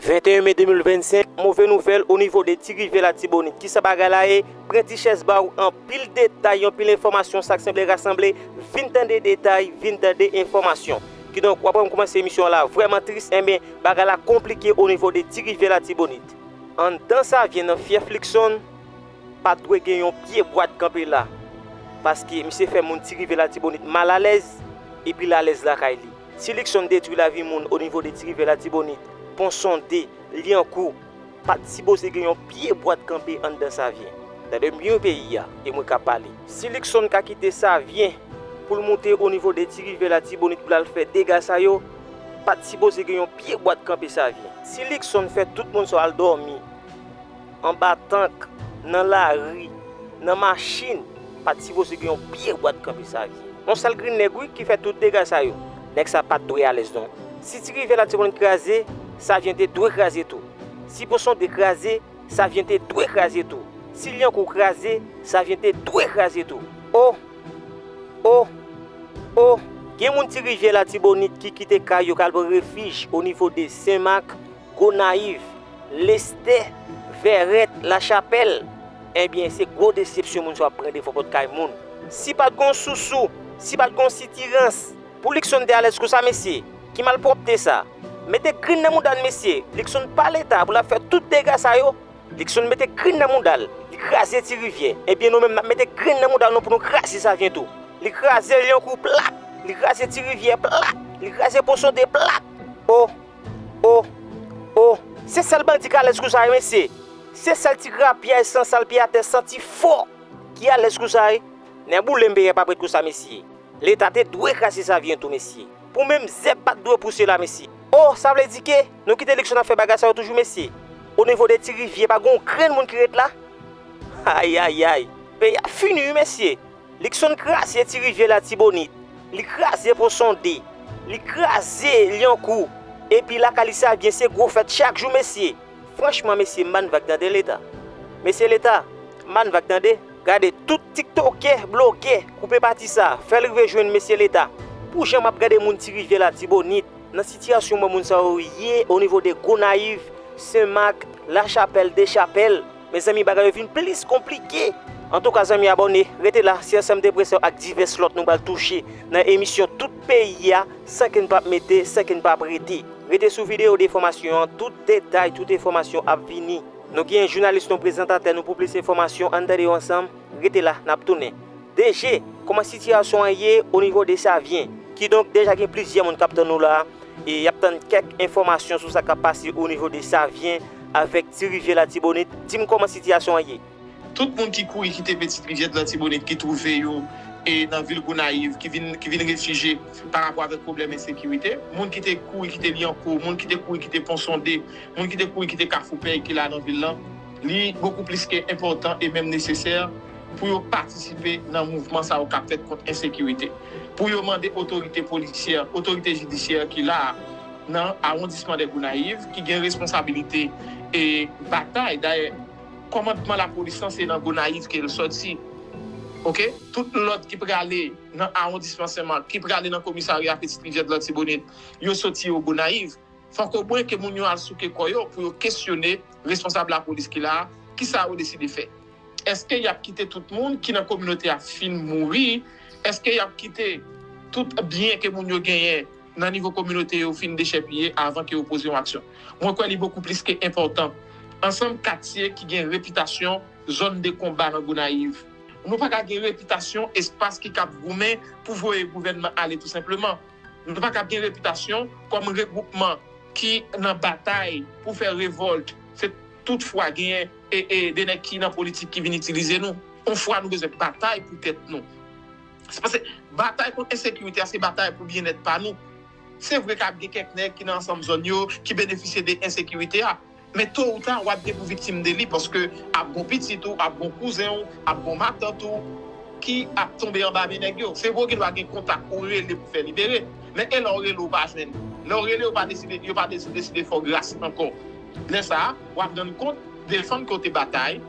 21 me 2025, move nouvèl o nivo de ti rivyè latibonit kisa bagay la ye, pran ti chèz baw anpil detay yon pil enfòmasyon sak sanble rasanble, vin tande detay, vin tande enfòmasyon. Kidonk wap wèm koumanse emisyon la vrèman tris enben bagay la konplike o nivo de ti rivyè latibonit. Anndan Savyen nan fyèf Likson, pat dwe gen yon pye bwa t kanpe la, paske misye fè moun ti rivyè latibonit mal alèz, epil alèz lakay li. Ti Likson detwi lavi moun o nivo de ti rivyè latibonit, pon sonde, lyankou, pat sipoze gen yon pye bwa t kanpe anndan savyen. Tande byen wi peyi a e mwen ka pale. Si Likson ka kite savyen pou l moute o nivo de ti rivyè latibonit pou l al fè dega sa yo, pat sipoze gen yon pye bwa t kanpe savyen. Si Likson fè tout moun sa yo al dòmi. Anba tank, nan lari, nan machin, pa t sipoze gen yon pye bwa t kanpe sa vye. Yon sal grenn nèg wi ki fè tout dega sa yo. Nèg sa pa t dwe alèz non. Si ti rivyè la te konn kraze, sa vye te dwe kraze tou. Si Ponsonde kraze, sa vye te dwe kraze tou. Si Lyankou kraze, sa vye te dwe kraze tou. O! O! O! Gen moun ti rivyè latibonit ki kite kay yo k al pran refij onivo de Sen Mak, Gonayiv, Lestè, Vèrèt, Lachapèl, enbyen se gwo desepsyon moun sa yo ap pran defo kot kay moun. Si pat gon sousou, si pat gon sitirans, pou Luckson te alèz konsa mesye? Ki malpwòpte sa? Mete grenn nan mouda n mesye, Luckson pa leta pou l ap fè tout dega sa yo. Luckson mete grenn nan mouda l, li kraze ti rivyè, enbyen nou menm n ap mete grenn nan mouda nou pou nou kraze Savyen tou. Li kraze Lyankou plat, li kraze ti rivyè plat, li kraze Ponsonde plat. O! Oh! Oh! Se sèl bandi k alèz kou sa wi mesye! Se sèl ti grapyay san sal pye atè santi fò ki alèz kou sa wi! Nèboule m peyè pa p ret kou sa mesye! Leta te dwe kraze sa vyen tou mesye! Pou menm zèb pa t dwe pouse la mesye! Oh! Sa vle di ke nou kite eleksyon n ap fè bagay sa yo toujou mesye? Onivo de ti rivyè pa gen yon grenn moun ki ret la? Ayayay! Peyi a fini wi mesye! Likson kraze ti rivyè latibonit, li kraze pon sonde, li kraze lyankou epi lakay li sa byen se gwo fèt chak jou mesye. Franchman mesye m bann vag tande leta mesye leta m bann vag tande gade tout tiktokè blogè koupe pati sa fèl rive jwenn mesye leta pou jan map gade moun ti rivyè latibonit nan sitiyasyon mwen moun sa yo ye onivo de gonayiv senmak lachapèl dechapèl Mezanmi bagay yo vin plis konplike. Antouka zanmi abòne, rete la, se ansanm de presyon ak divès lòt nou pral touche nan emisyon tout peyi a san ke n pap mete, san ke n pap rete. Rete sou videyo de enfòmasyon an, tout detay, tout enfòmasyon ap vini. Nou gen jounalis nou, prezantatè nou pou plis enfòmasyon, ann tande yo ansanm, rete la, nap tounen. DG, kòman sitiyasyon an ye o nivo de Savyen? Kidonk deja gen plizyè moun kap tann nou la, e yap tann kèk enfòmasyon sou sa kap pase o nivo de Savyen. Avèk Ti Rivyè Latibonit, di m kòman sitiyasyon an ye? Tout moun ki kouri kite Petite Rivière de l'Artibonite ki twouve yo nan vil Gonayiv ki vin ki vin refije pa rapò avèk pwoblèm ensekirite. Moun ki te kouri kite Lyankou, moun ki te kouri kite Pon Sonde, moun ki te kouri kite Kafou Pèy ki la nan vil lan, li bokou plis ke enpòtan e menm nesesè pou yo patisipe nan mouvman sa yo k ap fèt kont ensekirite. Pou yo mande otorite polisyè, otorite jidisyè ki la a. nan awondisman de Gonayiv ki gen responsabilite batay dayè kòmandman lapolis lan se nan Gonayiv ke l sòti ok tout lòt ki prale nan awondisman Senmak ki prale nan komisarya Petite Rivière de l'Artibonite yo sòti o Gonayiv fòk o mwen ke moun yo al souke kò yo pou yo kesyone responsab lapolis ki la a kisa yo deside fè èske y ap kite tout moun ki nan kominote a fin mouri èske y ap kite tout byen ke moun yo genyen. nan nivo kominote yo fin dechèpiye avan ke yo poze yon aksyon. Mwen kwè li bokou plis ke enpòtan. Ansanm katye ki gen repitasyon zòn de konba nan Gonayiv. Nou pa ka gen repitasyon espas ki kab goumen pou voye gouvènman ale tou senpleman. Nou pa kab gen repitasyon kòm regwoupman ki nan batay pou fè revòlt se tout fwa genyen de nèg ki nan politik ki vin itilize nou. On fwa nou bezwen batay pou tèt nou. Se pase batay kont ensekirite a se batay pou byennèt pa nou. Se vre kab gen kèk nèg ki nan ansanm zòn yo ki benefisye de ensekirite a, men to ou ta wap gen pou viktim de li paske ap gon pitit ou, ap gon kouzen ou, ap gon matant ou ki ap tonbe anba men nèg yo. Se vre ou gendwa gen kontak ou rele pou fè libere, men e lè ou rele ou pa jwenn? Lè ou rele yo pa deside yo pa deside fè w gras ankò. Lè sa a, w ap rann kont defann ke w te batay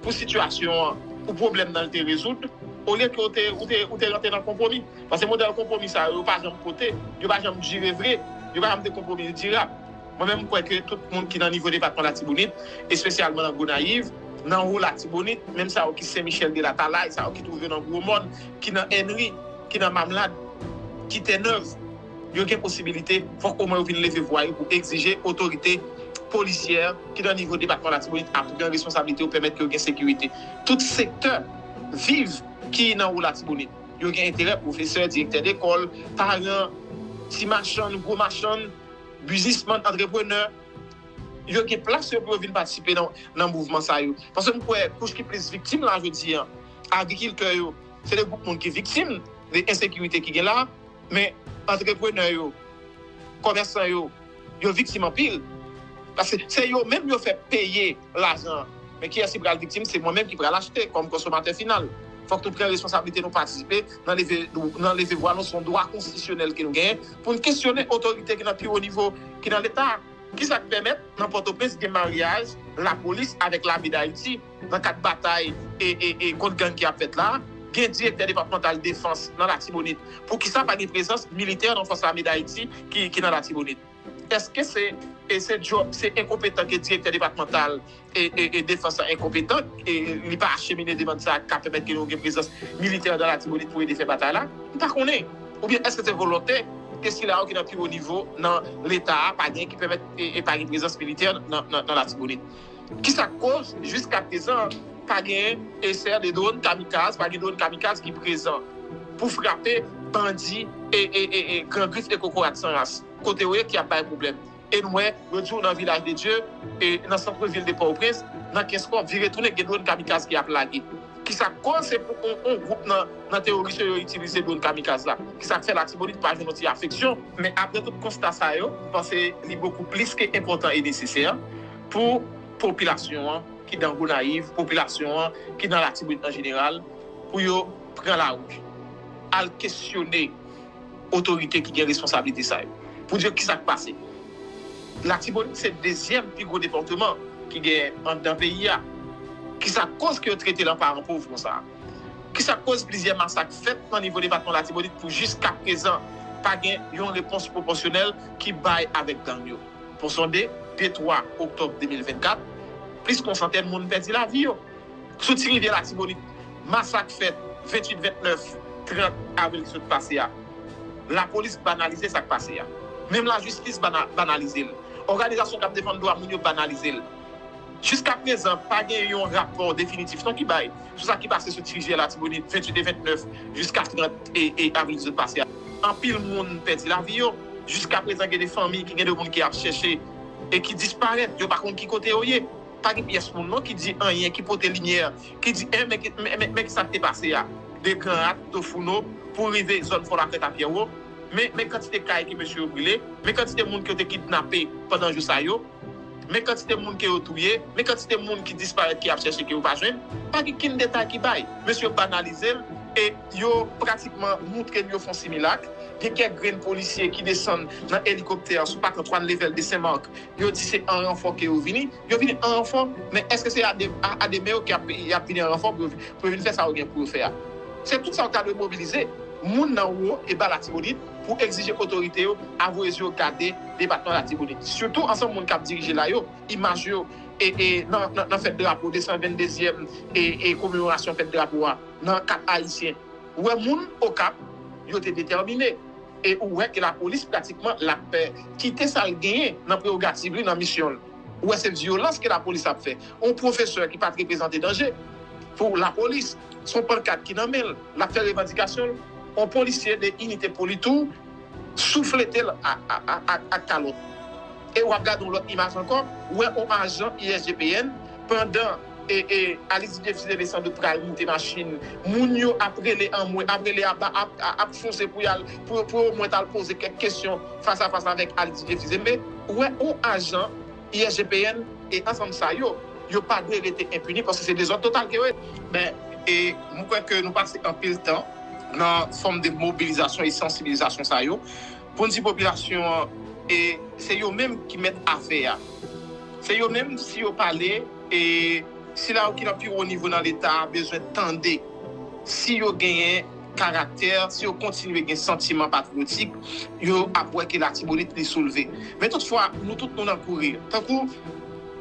pou sitiyasyon an, pou pwoblèm nan l te rezoud, olye ke w te rantre nan konpwomi. Paske modèl konpwomi sa yo, yo pa janm pote, yo pa janm dire vre, yo pa janm de konpwomi dirab. Mwen menm m kwè ke tout moun ki nan nivo depatman Latibonit, espesyalman nan Gonayiv, nan wo Latibonit, menm sa yo ki Sen Michèl de Latalay, sa yo ki twouve nan Gwo Mòn, ki nan Ènri, ki nan Mamlad, ki Tènèv, Yo gen posibilite fòk omwen yo vin leve vwa yo pou egzije otorite polisyè ki nan nivo depatman Latibonit a pran responsablite yo pèmèt ke yo gen sekirite. Tout sektè viv ki nan wo Latibonit yo gen enterè, pwofesè, direktè dekòl, paran, ti machann, gwo machann, bizismann, antreprenè, yo gen plas yo pou yo vin patisipe nan mouvman sa yo. Paske m kwè kouch ki plis viktim la jodi a, agrikiltè yo, se de gwoup moun ki viktim de ensekirite ki gen la. Men, antreprenè yo, komèsan yo, yo viktim anpil. Paske se yo menm yo fè peye lajan an. Men kiyès ki pral viktim? Se mwen menm ki pral achte kòm konsomatè final. Fòk nou pran responsablite nou patisipe nan leve nan leve vwa nou. Se yon dwa konstitisyonèl ke nou genyen pou nou kesyone otorite ki nan pi wo nivo ki nan leta a. Kisa k pèmèt nan Pòtoprens gen maryaj lapolis avèk lame Dayiti? Nan kad batay kont gang ki ap fèt la, gen direktè depatmantal defans nan Latibonit. Poukisa pa gen prezans militè nan Fòs Ame Dayiti ki nan Latibonit? Eske se djòb, se enkonpetan ke direktè depatmantal defans la enkonpetan, li pa achemine demand sa ka pèmèt ke nou gen prezans militè nan Latibonit pou ede fè batay la? M pa konnen. Oubyen eske se volonte ke sila yo ki nan pi wo nivo nan Leta a pa gen ki pèmèt e pa gen prezans militè nan Latibonit? Kisa k koz jiska prezan pa gen esè de dron kamikaz, pa gen dron kamikaz ki prezan pou frape bandi gran grif e kokorat san ras kote yo ye ki ap bay pwoblèm? E nou wè lòt jou nan Vilaj de Dye, nan santre vil de Pòtoprens, nan Kenskòf, vire tounen gen dron kamikaz ki ap lage. Kisa k koz se pou yon gwoup nan teworis yo yo itilize dron kamikaz la? Kisa k fè Latibonit pa jwenn yon ti afeksyon? Men aprè tout konsta sa yo, m panse li bokou plis ke enpòtan e nesesè Pou popilasyon an ki dan Gonayiv, popilasyon an ki dan Latibonit an jeneral, pou yo pran lari, al kesyone otorite ki gen responsablite sa yo, pou di yo kisa k pase. Latibonit se dezyèm pi gwo depatman ki gen anndan peyi a. Kisa k koz ke yo trete l an paran pov konsa? Kisa k koz plizyè masak fèt nan nivo depatman Latibonit pou jiskaprezan pa gen yon repons pwopòsyonèl ki bay avèk gang yo? Pou sonde, de 3 oktòb 2024, plis kon santèn moun pèdi lavi yo. Sou ti rivyè Latibonit, masak fèt 28, 29, 30 avril ki sot pase a. Lapolis banalize sa k pase a. Menm lajistis banalize l. Òganizasyon k ap defann dwa moun yo banalize l. Jiska prezan, pa gen yon rapò definitif non ki bay. sou sa ki pase sou 18 jiyè Latibonit, 28 e 29 jiska 30 avril ki sot pase a. Anpil moun pèdi lavi yo. Jiska prezan gen de fanmi ki gen de moun ki ap chèche e ki disparèt. Yo pa konn ki kote yo ye. Pa gen pyès moun non ki di anyen, ki pote limyè, ki di en men ki sa k te pase a. De Granrat, Tofouno pou rive zòn Fò Lakrèt a Pyèwo. Men kantite kay ke mesye yo brile. Men kantite moun ke yo te kidnape pandan jou sa yo. Men kantite moun ke yo touye, men kantite moun ki disparèt ke y ap chèche ke yo pa jwenn, pa gen kenn detay ki bay. Mesye yo banalize l e yo pratikman moutre n yo fon similak. Gen kèk grenn polisye ki desann nan elikoptè sou Pak Antwàn Level de Senmak, yo di se an ranfò ke yo vini. Yo vini an ranfò, men èske se a demen yo ke y ap vini an ranfò pou yo vin fè sa yo gen pou yo fè a? Se tout sa yo ta dwe mobilize, moun nan wo e ba Latibonit, pou egzije otorite yo avwe zye yo gade depatman Latibonit. Sitou ansanm moun k ap dirije la yo, imaj yo nan fèt drapo 222 zyèm komemorasyon fèt drapo a nan Kap Ayisyen wè moun Okap yo te detèmine e ou wè ke lapolis pratikman l ap kite sa l genyen nan prewogativ li nan misyon l. Ou wè se vyolans ke lapolis ap fè. On pwofesè ki pa t reprezante danje pou lapolis, s on pankat ki nan men l. L ap fè revandikasyon l, on polisye de inite poli tou souflete l ak kalòt. E w ap gade on lòt imaj ankò, ou wè on ajan ISGPN pandan Alix Didier Fils-Aimé san dout pral moute machin, moun yo ap rele anmwe, ap rele aba, ap fonse pou yo omwen t al poze kèk kesyon fas a fas avèk Alix Didier Fils-Aimé. Ou wè on ajan. ISGPN e ansanm sa yo, yo pa dwe rete enpini paske se dezòd total ke yo ye. Ben, e mwen kwè ke nou pase anpil tan nan fòm de mobilizasyon e sansibilizasyon sa yo pou n di popilasyon an e se yo menm ki mèt afè a. Se yo menm si yo pale e sila yo ki nan pi wo nivo nan Leta a bezwen tande si yo genyen. karaktè, si yo kontinye gen santiman patriyotik, yo ap wè ke Latibonit li soulve. Men tout fwa, nou tout nou nan kouri. Tankou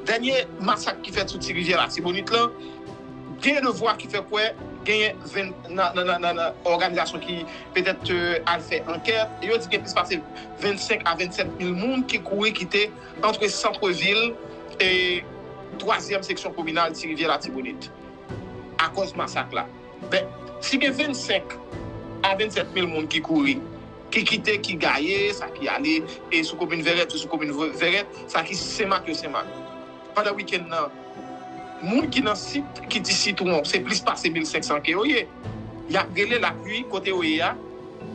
dènye masak ki fèt sou ti rivyè Latibonit lan, genyen de vwa ki fè kwè genyen nan òganizasyon ki petèt al fè ankèt, yo di gen plis pase 25 a 27 mil moun ki kouri kite antre santre vil e twazyèm seksyon kominal ti rivyè Latibonit akòz masak la. Ben, si gen 25 a 27 mil moun ki kouri, ki kite, ki gaye, sa ki ale e sou komin Vèrèt yo sou komin Vèrèt, sa ki Senmak yo Senmak. Pandan wikenn nan, moun ki nan sit ki di Sitwon, se plis pase 1500 ke yo ye. Y ap rele lapli kote yo ye a,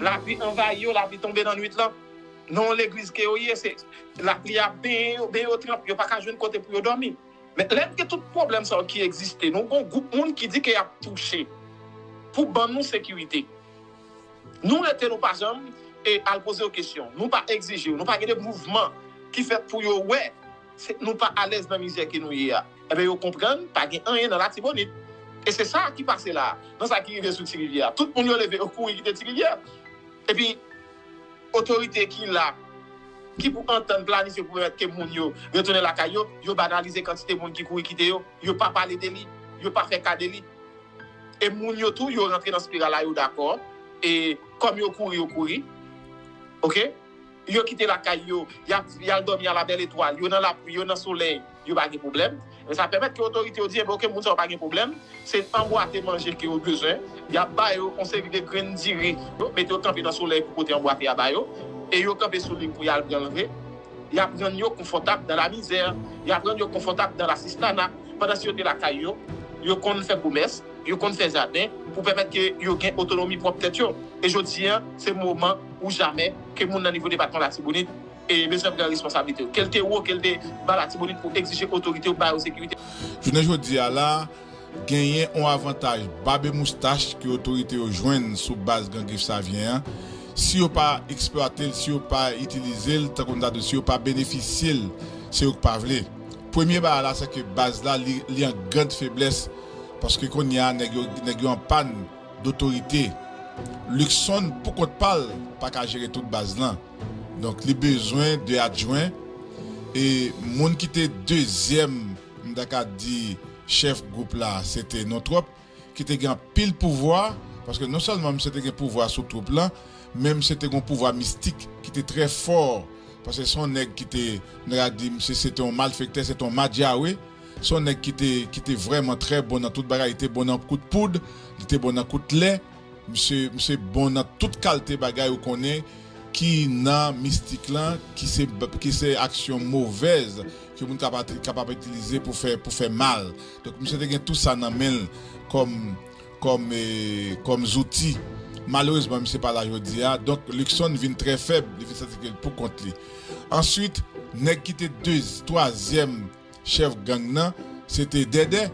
lapli anvayi yo, lapli tonbe nan nwit lan. Nan yon legliz ke yo ye, se lapli a benyen yo, benyen yo tranp, yo pa ka jwenn kote pou yo dòmi. Men lè n gen tout pwoblèm sa yo ki egziste, nou gen yon gwoup moun ki di ke y ap touche pou ban nou sekirite. Nou rete nou pa janm al poze yo kesyon, nou pa egzije yo, nou pa gen de mouvman ki fèt pou yo wè nou pa alèz nan mizè ke nou ye a. Enben yo konprann pa gen anyen nan Latibonit. E se sa ki pase la a, nan sa ki rive sou Tirivyè a. Tout moun yo leve yo kouri kite Tirivyè. Epi. Otorite ki la, ki pou antann, planifye pou pèmèt ke moun yo retounen lakay yo, yo banalize kantite moun ki kouri kite yo, yo pa pale de li, yo pa fè ka de li. E moun yo tou, yo rantre nan spiral la, yo dakò, e kòm yo kouri, yo kouri. Ok? Yo kite lakay yo, y ap, y al dòmi a la bèl etwal, yo nan lapli, yo nan solèy. yo pa gen pwoblèm, men sa pèmèt ke otorite yo di enben ok moun sa yo pa gen pwoblèm, se anbwate manje ke yo bezwen, y ap ba yo yon seri de grenn diri, yo mete yo kanpe nan solèy pou pote anbwate a ba yo, e yo kanpe sou li pou y al pran l vre, y ap rann yo konfòtab dan la mizè, y ap rann yo konfòtab dan lasistana, pandan si yo te lakay yo, yo konn fè komès, yo konn fè jaden, pou pèmèt ke yo gen otonomi pwòp tèt yo, e jodi an se moman ou jamè ke moun nan nivo depatman Latibonit. E mesye yo pran responsablite yo. Ke l te wo, ke l te ba latibonit pou egzije otorite yo ba yo sekirite. Jounen jodi a la, genyen on avantaj bab e moustach ke otorite yo jwenn sou baz Gran Grif Savyen an. Si yo pa eksplwate l, si yo pa itilize l tankou n ta dwe, si yo pa benefisye l, se yo k pa vle. Premye bagay la se ke baz la li an grand feblès paske kounye a nèg yo nèg yo an pàn dotorite. Luckson pou kont pa l pa ka jere tout baz lan. Donk li bezwen 2 adjwen e moun ki te dezyèm m ta ka di chèf gwoup la se te Nontròp ki te gen anpil pouvwa paske non sèlman misye te gen pouvwa sou twoup lan men misye te gen yon pouvwa mistik ki te trè fò paske se yon nèg ki te m ta ka di misye se te yon malfektè se te yon madjawe se yon nèg ki te ki te vrèman trè bon nan tout bagay li te bon nan kout poud li te bon nan kout lè. Misye misye bon nan tout kalte bagay ou konnen ki nan mistik lan ki se ki se aksyon movèz ke moun kap kapab itilize pou fè pou fè mal donk misye te gen tou sa nan menl kòm kòm kòm zouti malerezman misye pa la jodia donk Luckson vin trè fèb li vin santi ke li pou kont li answit nèg ki te de twazyèm Chèf gang nan se te Dèdè.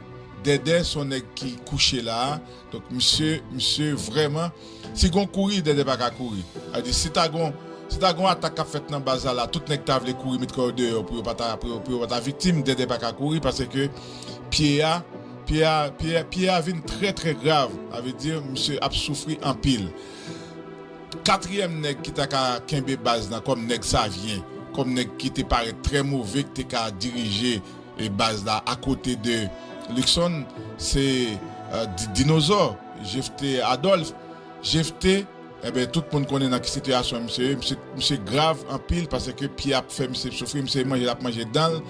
Dèdè se yon nèg ki kouche la a. Donk misye, misye vrèman, si gon kouri, Dèdè pa ka kouri. Sa vle di si ta gon, si ta gon atak k ap fèt nan baz la la, tout nèg ta vle kouri met kò yo deyò pou yo pa ta, pou yo pa ta viktim, Dèdè pa ka kouri paske pye a, pye a, pye a, pye a vin trè trè grav. Sa vle di misye ap soufri anpil. Katriyèm nèg ki ta ka kenbe baz la kòm nèg Savyen, kòm nèg ki te parèt trè move ki te ka dirije baz la akote de Lukson, se Dinozò, Jefte Adòlf. Jefte, enben tout moun konnen nan ki sitiyasyon misye ye, misye grav anpil paske pye ap fè misye soufri, misye manje l ap manje dan l.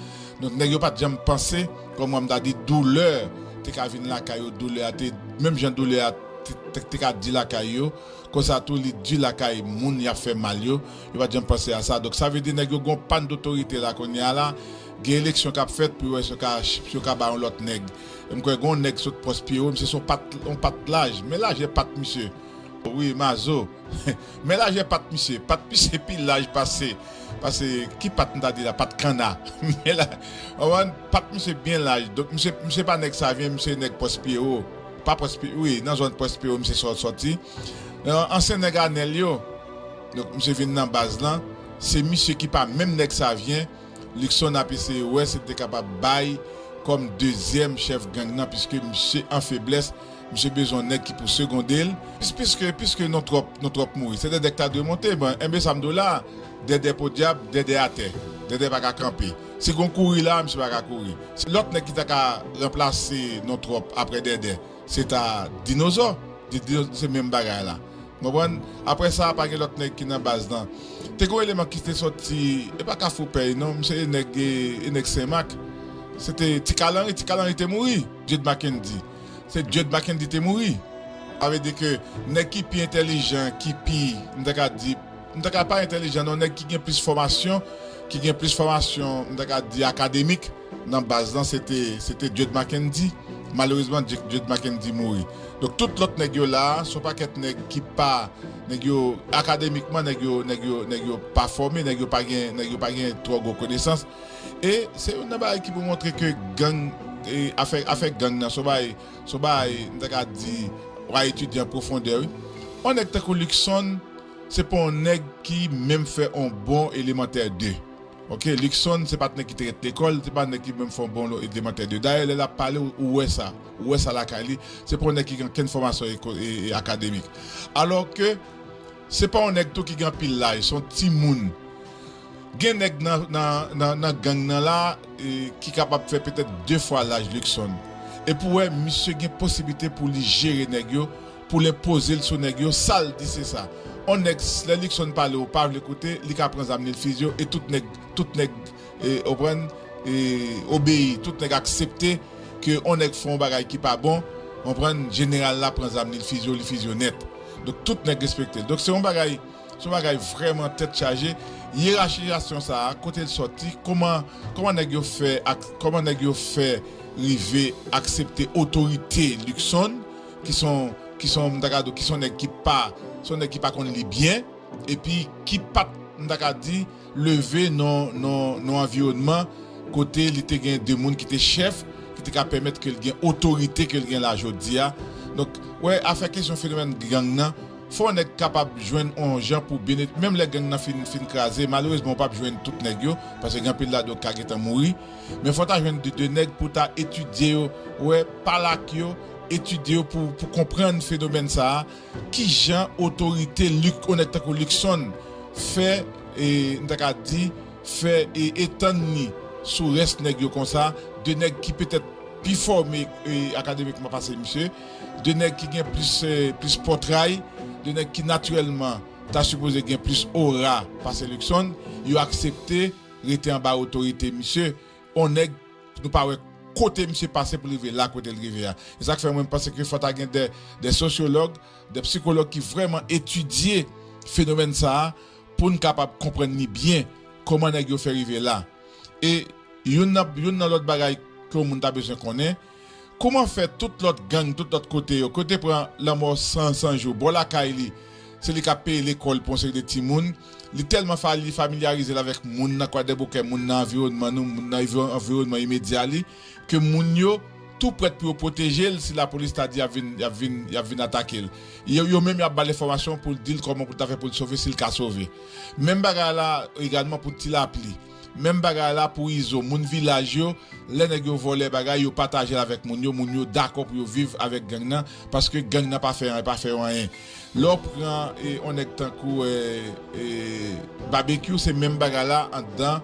Donk nèg yo pa t janm panse, kòm m ta di, doulè te ka vin lakay yo, doulè a te, menm jan doulè a te ka di lakay yo. Konsa tou li du lakay moun yap fè mal yo, yo pat janm panse a sa. Donk sa vle di nèg yo gen yon pann dotorite la kounye a la, gen eleksyon kap fèt pou yo wè si yo ka si yo ka bay yon lòt nèg. E m kwè gen yon nèg sot pwòs Pierrot, misye se yon pat yon pat laj, men lajè pat misye. Wi Mazo, men lajè pat misye, pat misye pi laj pase pase ki pat m ta di la, pat kanna. Men la, ou konprann, pat misye byen laj. Donk misye misye pa nèg Savien, misye nèg pwòs Pierrot. Pa Pwèspiro, wi, nan zòn Pwèspiro misye sòti. Nan ansyen nèg Anèl yo, donk misye vin nan baz lan, se misye ki pa menm nèg Savyen, Lukson ap eseye wè si l te kapab bay kòm dezyèm chèf gang nan piske misye an feblès, misye bezwen yon nèg ki pou segonde l. Piske, piske nou twòp, nou twòp mouri. Se Dèdè ki ta dwe monte. Bon, enben sa m di w la, Dèdè podyab, Dèdè atè. Dèdè pa ka kanpe. Si gon kouri la misye pa ka kouri. Si lòt nèg ki ta ka ranplase non tròp aprè Dèdè se ta Dinozò, se menm bagay la. Ou konprann? Aprè sa pa gen lòt nèg ki nan baz lan. Te gon eleman ki te sòti, e pa kafou pèy non, misye e nèg e nèg Senmak. Se te Ti Kalanri, Ti Kalanri te mouri, Dieude Mackendy. Se Dieude Mackendy te mouri. Sa vle di ke nèg ki pi entèlijan, ki pi, m ta ka di. M ta ka pa entèlijan non nèg ki gen plis fòmasyon ki gen plis fòmasyon m ta ka di akademik nan baz lan se te se te Jud Mackendy malerezman Jud Mackendy mouri donk tout lòt nèg yo la son pakèt nèg ki pa nèg yo akademikman nèg yo nèg yo nèg yo pa fòme nèg yo pa gen nèg yo pa gen twò gwo konesans e se youn nan bagay ki pou montre ke gang e afè afè gang nan son bagay son bagay m ta ka di wa etidye an pwofondè wi on nèg tankou Luckson. Se pa yon nèg ki menm fè yon bon elemantè 2 ok Luckson se pat nèg ki te ret lekòl se pa nèg ki menm fè yon bon elemantè 2 dayè lè lap pale ou wè sa ou wè sa lakay li se pa yon nèg ki gen ankenn fòmasyon akademik alò ke se pa yon nèg tou ki gen anpil laj se yon timoun gen nèg nan gang nan la ki kapab fè petèt 2 fwa laj Luckson epi ou wè misye gen posiblite pou li jere nèg yo. Pou lè pozel sou nèg yo sal di sesa on nèg lè Luckson pale ou pa vle koute li ka pran zam li l fize w e tout nèg tout nèg ou konprann obeyi tout nèg aksepte ke on nèg fon bagay ki pa bon ou konprann jeneral la pran zam li l fize w li fize w nèt donk tout nèg respekte l donk se on bagay se on bagay vrèman tèt chaje yerachizasyon sa a kote l sòti kòman kòman nèg yo fè ak kòman nèg yo fè rive aksepte otorite Luckson. ki son ki son m ta ka di w ki son nèg ki pa son nèg ki pa konn li byen epi ki pa t m ta ka di leve nan nan nan anviwònman kote li te gen de moun ki te chèf ki te ka pèmèt ke l gen otorite ke l gen la jodi a donk wè afè kesyon fenomèn gang nan fò nèg kapab jwenn on jan pou bene menm lè gang nan fin fin kraze malerezman ou pa p jwenn tout nèg yo paske gen anpil ladan yo ka gentan mouri men fò ta jwenn de nèg pou ta etidye yo wè pa l ak yo. etidye yo pou konprann fenomèn sa a, ki jan otorite lik onèt tankou Luckson fè nou ta ka di fè etann li sou rès nèg yo konsa, de nèg ki petèt pi fòme akademikman pase misye, de nèg ki gen plis pòtray, de nèg ki natirèlman ta sipoze gen plis ora pase Luckson, yo aksepte rete anba otorite misye. on nèg nou pa wè kote misye pase pou l rive la kote l rive a. Se sa k fè mwen m panse ke fò ta gen dè sosyològ, dè psikològ ki vrèman etidye fenomèn sa a pou n kapab konprann li byen kòman nèg yo fè rive la. E youn nan lòt bagay ke yon moun ta bezwen konnen, Kouman fè tout lòt gang tout lòt kote yo kote pran lanmò san san jou bò lakay li se li kap peye lekòl pou yon seri de timoun li tèlman fali familyarizel avèk moun nan kwadèboukè moun nan anviwònman nou moun nan anviwònman imedya li ke moun yo tou prèt pou yo pwotejel si lapolis ta di yap vin yap vin yap vin atakel yo yo menm yap bal enfòmasyon poul dil kòman poul ta fè poul sove sil ka sove menm bagay la egalman pou tilapli. Menm bagay la pou izo moun vilaj yo lè nèg yo vòlè bagay yo patajel avèk moun yo moun yo dakò pou yo viv avèk gang nan paske gang nan pa fè anyen pa fèyo anyen lè ou pran on nèg tankou babekyou se menm bagay la andan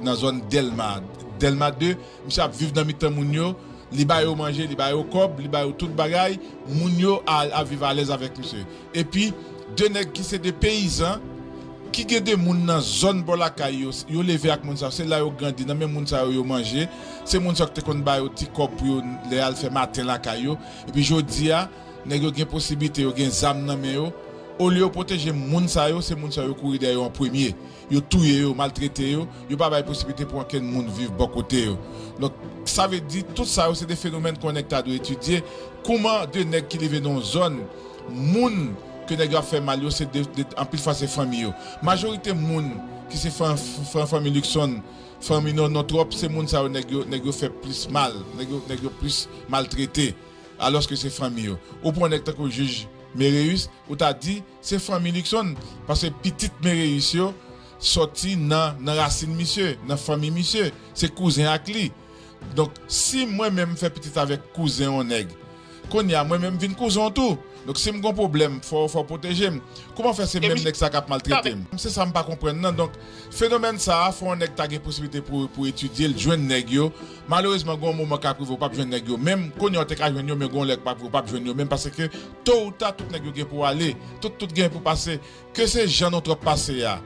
nan zòn dèlma dèlma 2. Misye ap viv nan mitan moun yo, li ba yo manje, li ba yo kòb, li ba yo tout bagay, moun yo ap viv alèz avèk misye. Epi, de nèg ki se de peyizan, ki gen de moun nan zòn bò lakay yo, yo leve ak moun sa yo, se la yo grandi, nan men moun sa yo yo manje, se moun sa yo ki te konn ba yo ti kòb pou yo lè y al fè maten lakay yo. Epi jodi a, nèg yo gen posiblite, yo gen zam nan men yo, olye yo pwoteje moun sa yo, se moun sa yo yo kouri dèyè yo an premye. Yo touye yo, maltrete yo, yo pa bay posiblite pou ankenn moun viv bò kote yo. Donk, sa vle di, tout sa yo se 2 fenomèn k'on nèg ta dwe etidye, kouman 2 nèg ki leve nan yon zòn, moun ke nèg yo ap fè mal yo se 2, anpil fwa se fanmi yo. Majorite moun ki se fanmi Luckson, fanmi Nono Tròp, se moun sa yo nèg yo, nèg yo fè plis mal, nèg yo, nèg yo plis maltrete, alòske se fanmi yo. Ou pran yon nèg tankou jij Méréus, ou ta di. Se fanmi Luckson paske pitit Mereyis yo sòti nan nan rasin misye, nan fanmi misye. Se kouzen ak li. Donk, si mwen menm m fè pitit avèk kouzen yon nèg, kounye a mwen menm m vin kouzen w tou. Donk, si m gen yon pwoblèm, fò w fò w pwoteje m. Kouman fè se menm nèg sa k ap maltrete m? Se sa m pa konprann nan. Donk, fenomèn sa a, fò yon nèg ta gen posiblite pou pou etidye l, jwenn nèg yo. Malerezman gen yon moman kap rive ou pap jwenn nèg yo menm, kounye a ou te ka jwenn yo men gen yon lè kap rive ou pap jwenn yo menm paske to ou ta tout nèg yo gen pou ale, tout tout gen pou pase, ke se jan nou trop pase a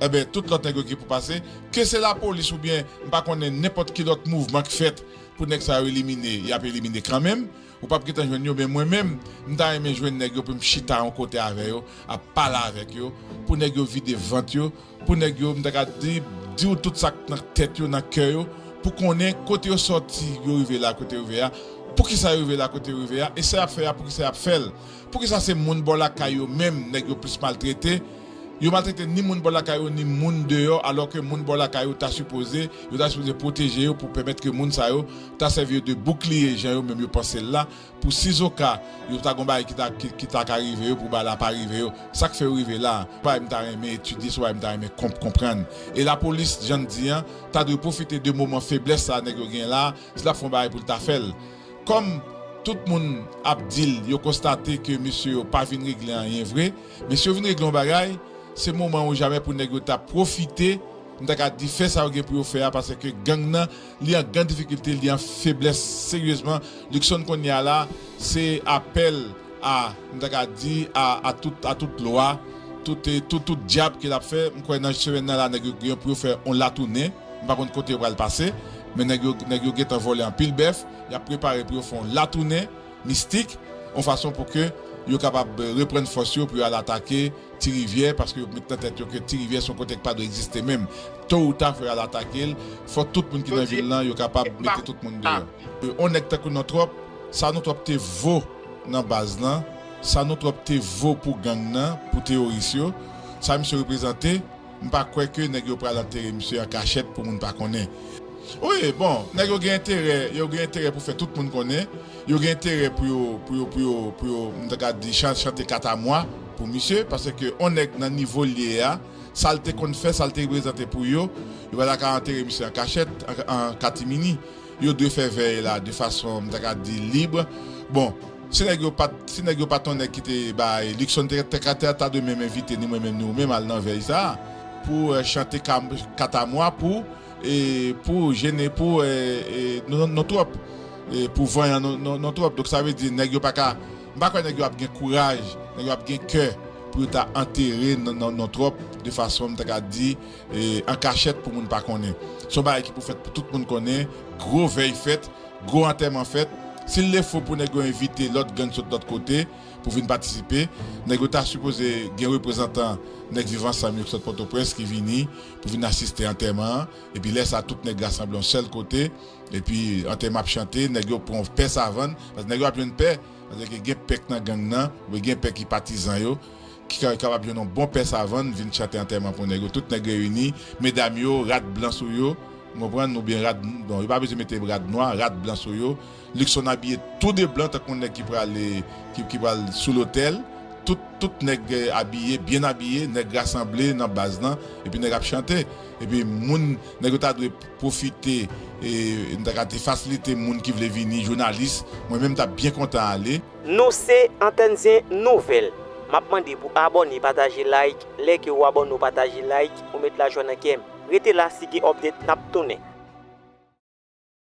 enben tout lòt nèg yo gen pou pase, ke se lapolis oubyen m pa konnen nenpòt ki lòt mouvman k fèt pou nèg sa yo elimine yap elimine kanmenm, ou pap gentan jwenn yo men mwen menm m ta renmen jwenn nèg yo pou m chita yon kote avè yo ap pale avèk yo pou nèg yo vide vant yo Pou nèg yo, m ta ka di, diw tout sak nan tèt yo, nan kè yo, pou konnen kote yo sòti, yo rive la kote yo rive a, poukisa yo rive la kote yo rive a, e sa yap fè a poukisa yap fèl, poukisa se moun bò lakay yo menm nèg yo plis maltrete, yo maltrete ni moun bò lakay yo ni moun deyò alò ke moun bò lakay yo ta sipoze, yo ta sipoze pwoteje yo pou pèmèt ke moun sa yo ta sèvi yo de boukliye jan yo menm yo pansel la, Pou sizoka yo ta gon bagay ki ta ki ta ka rive yo pou bagay la pa rive yo sak fè yo rive la se bagay m ta renmen etidye se bagay m ta renmen konp konprann e lapolis jan n di an ta dwe pwofite de moman feblès sa nèg yo gen la si l ap fè yon bagay pou l ta fè l kòm tout moun ap di l yo konstate ke mesye yo pa vin regle anyen vre men si yo vin regle yon bagay se moman ou jamè pou nèg yo ta pwofite m ta ka di fè sa yo gen pou yo fè a paseke gang nan Li an gran difikilte, li an feblès seryezman. Luckson kounye a la, se apèl a, m ta ka di, a tout lwa, tout dyab ke l ap fè. M kwè nan semèn nan la nèg yo gen pou yo fè yon latounen. M pa konn kote yo pral pase. Men nèg yo gentan vòlè anpil bèf. Y ap prepare pou yo fè yon latounen. mistik, yon fason pou ke yo kapab reprann fòs yo pou yo al atake Ti Rivyè, paske yo met nan tèt yo ke Ti Rivyè se yon kote ki pa dwe egziste menm. To ou ta fò yo al atake l, fò tout moun ki nan vil lan yo kapab mete tout moun deyò. Yon nèg tankou non Twòp, sa non Twòp te vo nan baz lan, sa non Twòp te vo pou gang nan, pou teyoris yo, sa misye reprezante, M pa kwè ke nèg yo pral antere misye an kachèt pou moun pa konnen. Wi, bon, nèg yo gen enterè, yo gen enterè pou fè tout moun konnen, yo gen enterè pou yo, pou yo, pou yo, pou yo, m ta ka di chan, chante katamwa pou misye, paske on nèg nan nivo l ye a, sa l te konn fè, sa l te reprezante pou yo, yo pa ta ka antere misye an kachèt, an, an katimini. yo dwe fè vèy la de fason m ta ka di lib bon si nèg yo pat si nèg yo pat yon nèg ki te bay Luckson Terre ta dwe menm envite ni mwen menm ni ou menm al nan vèy sa pou chante katamwa pou pou jene pou nou twòp pou vanyan nou twòp donk sa vle di nèg yo pa ka m pa kwè nèg yo ap gen kouraj nèg yo ap gen kè pou yo ta antere nou twòp de fason m ta ka di. an kachèt pou moun pa konnen. Se yon bagay ki pou fèt pou tout moun konnen, gwo vèy fèt, gwo antèman fèt. Si l defo pou nèg yo envite lòt gang sot lòt kote pou vin patisipe, nèg yo ta sipoze gen reprezantan Nèg Viv Ansanm yo ki sot Pòtoprens ki vini pou vin asiste antèman an. Epi lè sa tout nèg rasanble yon sèl kote epi antèman ap chante, nèg yo pran pè savann, paske nèg yo ap jwenn pè, paske gen pè k nan gang nan oubyen gen pè ki patizan yo, Ki ka kapab jwenn yon bon pè savann vin chante antèman pou nèg yo. Tout nèg reyini, medam yo, rad blan sou yo. N konprann? Oubyen rad, bon, yo pa bezwen mete rad nwa, rad blan sou yo. Lukson abiye tou de blan tankou yon nèg ki prale, ki pral sou lotèl. Tout, tout nèg abiye, byen abiye. Nèg rasanble nan baz lan, epi nèg ap chante. Epi moun, nèg yo ta dwe pwofite, e, n ta ka di fasilite moun ki vle vini, jounalis. Mwen menm m t ap byen kontan ale. Nou se antèn zen nouvèl. Map mande pou abòne pataje like lè ke ou abòne ou pataje like ou met lajwa nan kèm. Rete la si gen update nap tounen.